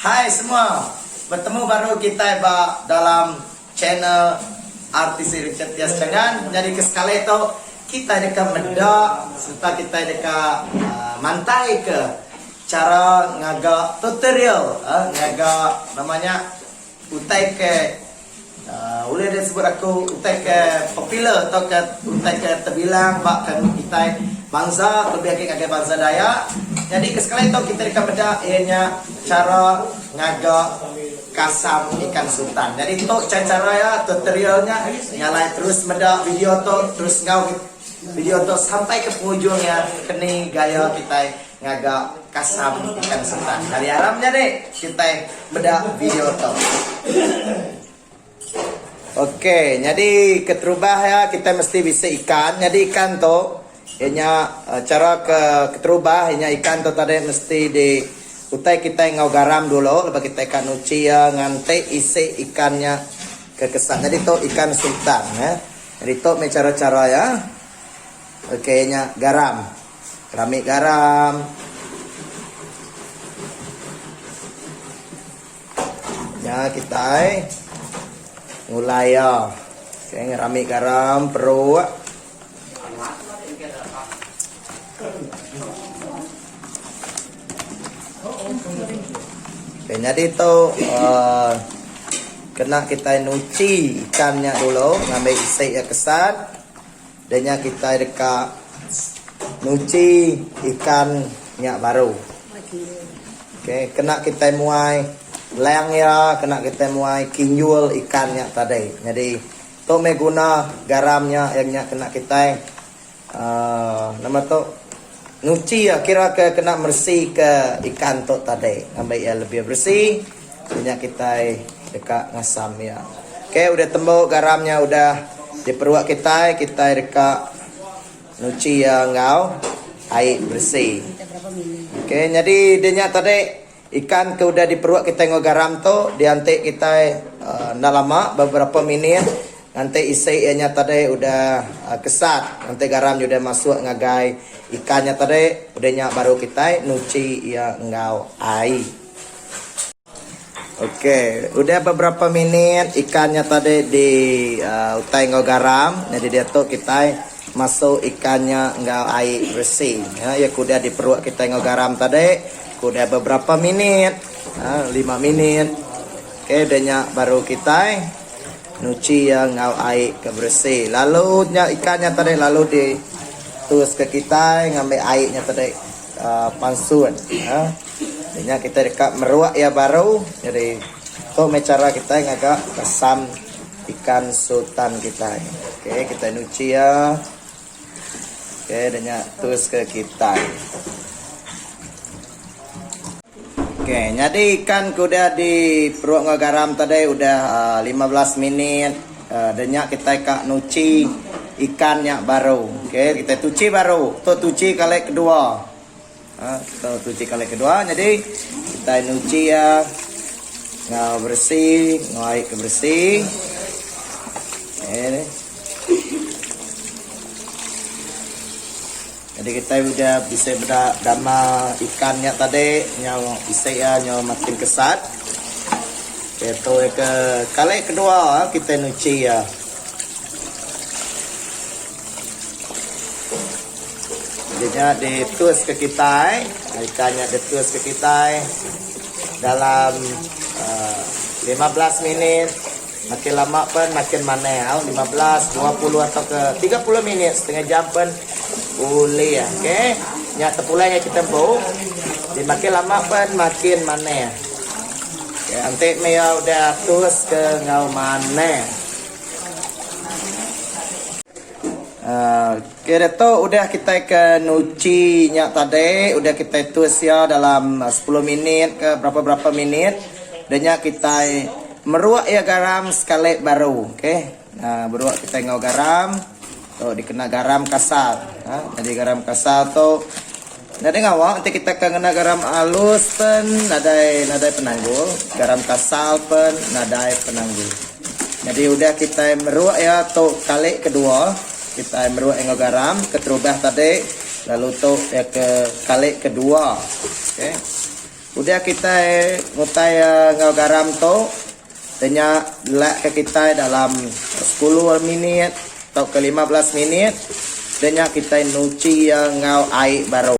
Hai semua, betemu baru kitai ba dalam channel RTC Richard Tias Changan. Nyadi ke sekali tu kitai deka meda sereta kitai deka mantai ke chara ngaga tutorial ngaga nama nya Utai ke ulih disebut aku utai ke popular tauka utai ke tebilang ba kami kitai bansa kelebih agi ngagai bansa Dayak. Nyadi ke sekali tu kitai deka meda iya nya chara ngaga kasam ikan sultan. Nyadi tu chai chara iya tutorial nya nya alai terus meda video tu terus enggau video tu sampai ke pengujung iya keni gaya kitai. Ngaga kasam ikan setan. Kali aram nya deh kitai meda video to. Ok nyadi keterubah ya kitai mesti bisi ikan. Nyadi ikan to inya eh, cara ke keterubah inya ikan to tadi mesti di utai kitai ngau garam dulu lepas kitai ka nuci ya nganti isi ikan nya ke kesat. Nyadi to ikan setan ya. Nyadi to me cara-cara ya. Ok inya garam. Rami garam. Nya kitai ngulai iya. Sing rami garam peruk. Okay, jadi tu uh, kena kita nuci ikan nya dulu ngambil isi yang kesat. Dia nya kitai deka nguji ikan nya baru. Ok kena kitai muai lang iya kena kitai muai kinjul ikan nya tadi. Nyadi tu meh guna garam nya yang nya kena kitai aaa nama tu Nyuci iya kira ke kena meresika ikan tu tadi ngambi iya lebih beresi kena nya kitai deka ngasam iya. Ok udah tembu garam nya udah diperuk kitai, kitai deka nyuci iya enggau ai beresi. Ok nyadi dinya tadi. Ikan ke udah diperuk kitai enggau garam tu dianti kitai enda lama beberapa minit nganti isi iya nya tadi udah kesat nganti garam udah masuk ngagai ikan nya tadi udah nya baru kitai nuchi iya enggau ai. Ok udah beberapa minit ikan nya tadi di uhh utai enggau garam nyadi diatu kitai masuk ikan nya enggau ai beresi iya ke udah diperuk kitai enggau garam tadi Ku dia beberapa minit, lima minit ke dia nya baru kitai nuchi iya enggau ai ke beresi. Lalu nya ikan nya tadi lalu di tuska kitai ngambi ai nya tadi aaa pansun aaa. Di nya kitai deka meruk iya baru jadi tu meh chara kitai ngaga asam ikan sultan kitai. Okey kitai nuchi iya. Okey dah nya teruska kitai. Okey nyadi ikan ke udah di perut enggau garam tadi udah uh, 15 minit. Uh, dah nya kitai ka nuci ikan nya baru. Okey kitai tuci baru. Tu tuci kali kedua. Ha kita cuci kali kedua jadi kita nyuci ya ngau bersih ngau air ke bersih. Eh. Jadi kita udah bisa beda dama ikan nya tadi nyau isi ya nyau makin kesat. Itu ke kali kedua kita nyuci ya. Nya di tus ke kitai ikan nya di tus ke kitai dalam uhh lima belas minit makin lama pen makin manah au lima belas dua puluh ato ke tiga puluh minit setengah jam pen ulih ok nya tepulai nya kitai empu di makin lama pen makin manah enti meh iya udah tus ke enggau manah uhh. Ke ditu udah kitai ke nuchi nya tadi udah kitai twist ia dalam sepuluh minit ke berapa berapa minit da nya kitai meruk ia garam sekali baru okay uhh beruk kitai enggau garam tu dikena garam kasar uhh jadi garam kasar tu. Nadai ngawa enti kita ka ngena garam alus pen nadai nadai penanggul, garam kasal pen nadai penanggul. Nyadi udah kitai meruk iya tu kali kedua, kitai meruk iya enggau garam keterubah tadi lalu tu iya ke kali kedua. Okey. Udah kitai ngutai iya enggau garam tu, denya delakka kitai dalam sepuluh minit tauka lima belas minit denya kitai nuchi iya enggau ai baru.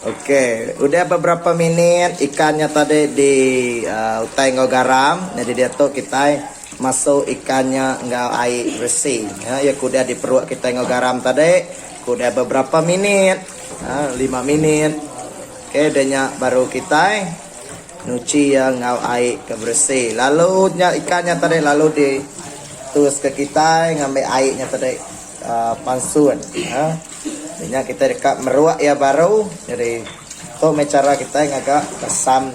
Okey, udah beberapa minit ikan nya tadi di aaa utai enggau garam, nyadi diatu kitai masuk ikan nya enggau ai beresi. Nya iya ke udah diperuk kitai enggau garam tadi, ke udah beberapa minit, aaa lima minit. Okey dah nya baru kitai nyuci iya enggau ai ke beresi. Lalu nya ikan nya tadi lalu di tuska kitai ngambi ai nya tadi aaa pansun aaa. Dah nya kitai deka meruk iya baru jadi tu meh chara kitai ngaga asam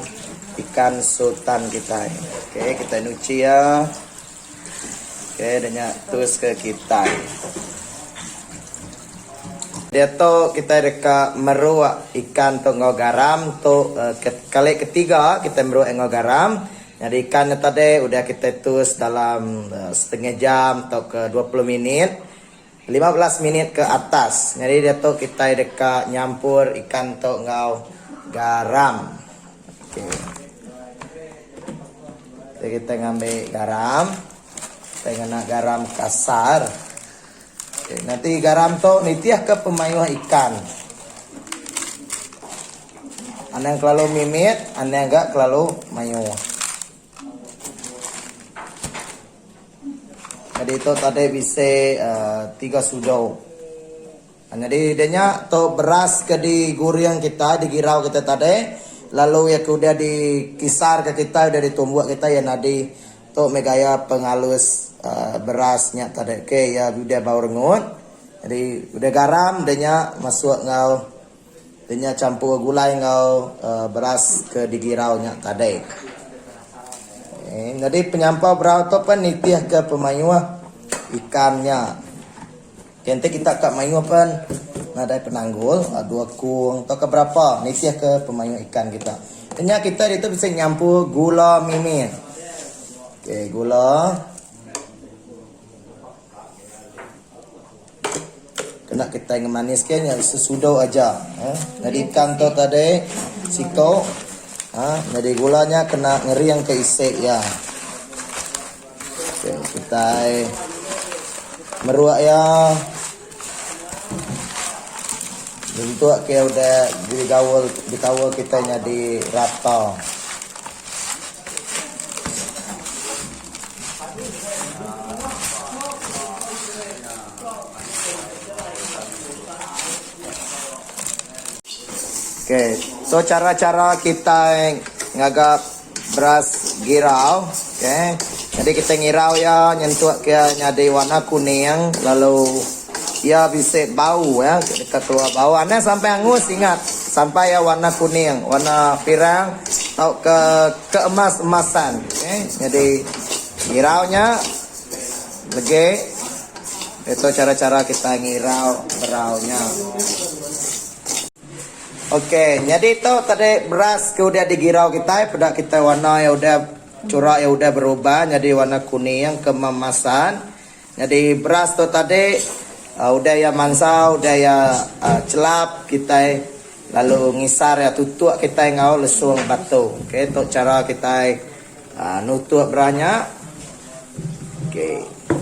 ikan sultan kitai. Okey kitai nyuci iya. Okey dah nya teruska kitai. Diatu kitai deka meruk ikan tu enggau garam tu kali ketiga kitai meruk iya enggau garam. Nyadi ikan nya tadi udah kitai tus dalam setengah jam tauka dua puluh minit. Lima belas minit ke atas. Nyadi diatu kitai deka nyampur ikan tu enggau garam. Okey. Jadi kitai ngambi garam. Kitai ngena garam kasar. Okey, nanti garam tu nitihka pemayuh ikan. Anang kelalu mimit, anang ga kelalu mayuh. Nyadi ito tadi bisi tiga sudu. Nyadi da nya tu beras ke diguring kitai digirau kitai tadi lalu iya ke udah dikisar ka kitai udah ditumbuk kitai iya nyadi tu meh gaya pengalus beras nya tadi ke iya udah bau rengut. Udah garam da nya masuk enggau Denya champur gulai enggau beras ke digirau nya tadai. Nyadi penyampau berau tu pen nitihka pemayuh ikan nya. Okey enti kita ka mayuh pen nadai penanggul dua kung tauka berapa nitihka pemayuh ikan kita. Denya kita ditu bisi nyampur gula mimit. Okey gula. Kena kitai ngemaniska nya sesudu aja. Nyadi ikan tu tadi siku uhh nyadi gula nya kena ngeringka isi iya. Okey kitai meruk iya nyentuk ke udah digaul dikaul kitai nyadi rata. Ok so cara cara kitai ngaga beras girau ok jadi kitai ngirau iya nyentuk iya nyadi warna kuning lalu. Iya bisi bau ya deka tua bau anang sampai angus ingat sampai iya warna kuning warna pirang tauka keemas-emasan okey nyadi ngirau nya legi diatu chara-chara kitai ngirau berau nya. Okey nyadi tu tadi beras ke udah digirau kitai peda kitai warna iya udah chura iya udah berubah nyadi warna kuning keemasan. Nyadi beras tu tadi udah iya mansau udah iya chelap kitai lalu ngisar iya tutuk kitai enggau lesung batu ok tu chara kitai nutuk beras nya ok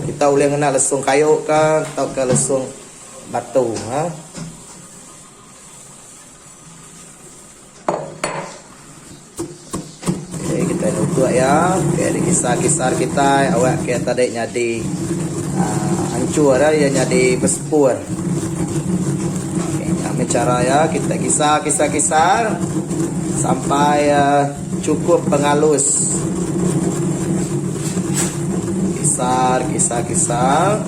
kita ulih ngena lesung kayu ka tauka lesung batu ha. Okey, kita tutup ya. Okey, ada kisar-kisar kita awak ke tadi nyadi uh, hancur dah ya nyadi bersepur. Okey, kami cara ya kita kisar-kisar-kisar sampai uh, cukup pengalus. Kisar, kisar, kisar.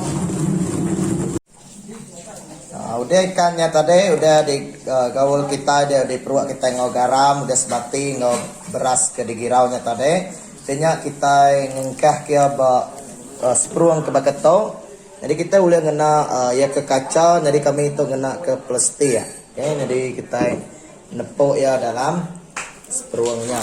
Udah ikan nya tadi udah di gaul kitai udah di peruk kitai enggau garam udah sebati enggau beras ke di girau nya tadi ti nya kitai ngengkah ke iya ba seperong ke baka tu jadi kitai ulih ngena iya ke kaca nyadi kami tu ngena ke plastik okay nyadi kitai nepu iya dalam seperong nya.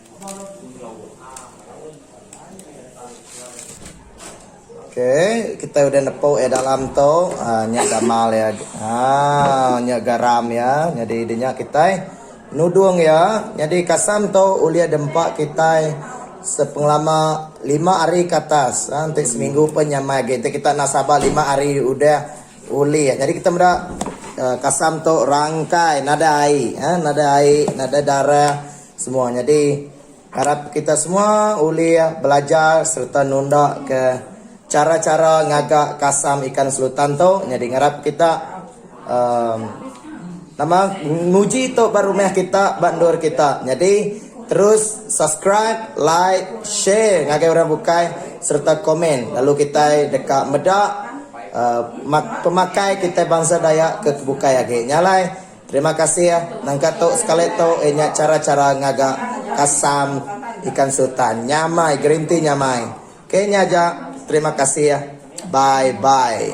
Okay, kitai udah nepuk iya dalam tu, aaa nya gamal iya, aaa nya garam iya, nyadi dinya kitai nudung iya, nyadi kasam tu ulih dempa kitai sepengelama lima hari ke atas, aaa enti seminggu pun nya mai agei, enti kita enda sabar lima hari udah ulih, nyadi kita meda kasam tu rangkai nadai ai, nadai ai, nadai darah. Semua nyadi, arap kita semua ulih belajar sereta nunda ke chara-chara ngaga kasam ikan selutan tu nyadi ngarap kita uhh nama nguji tu ba rumah kita ba endur kita nyadi terus subscribe like share ngagai orang bukai sereta komen lalu kitai deka meda uhh pemakai kitai bansa dayak ke bukai agi nya alai. Terima kasih nangka tu sekali tu eh nya chara chara ngaga kasam ikan sultan nyamai guarantee nyamai ok nya aja terima kasih bye bye.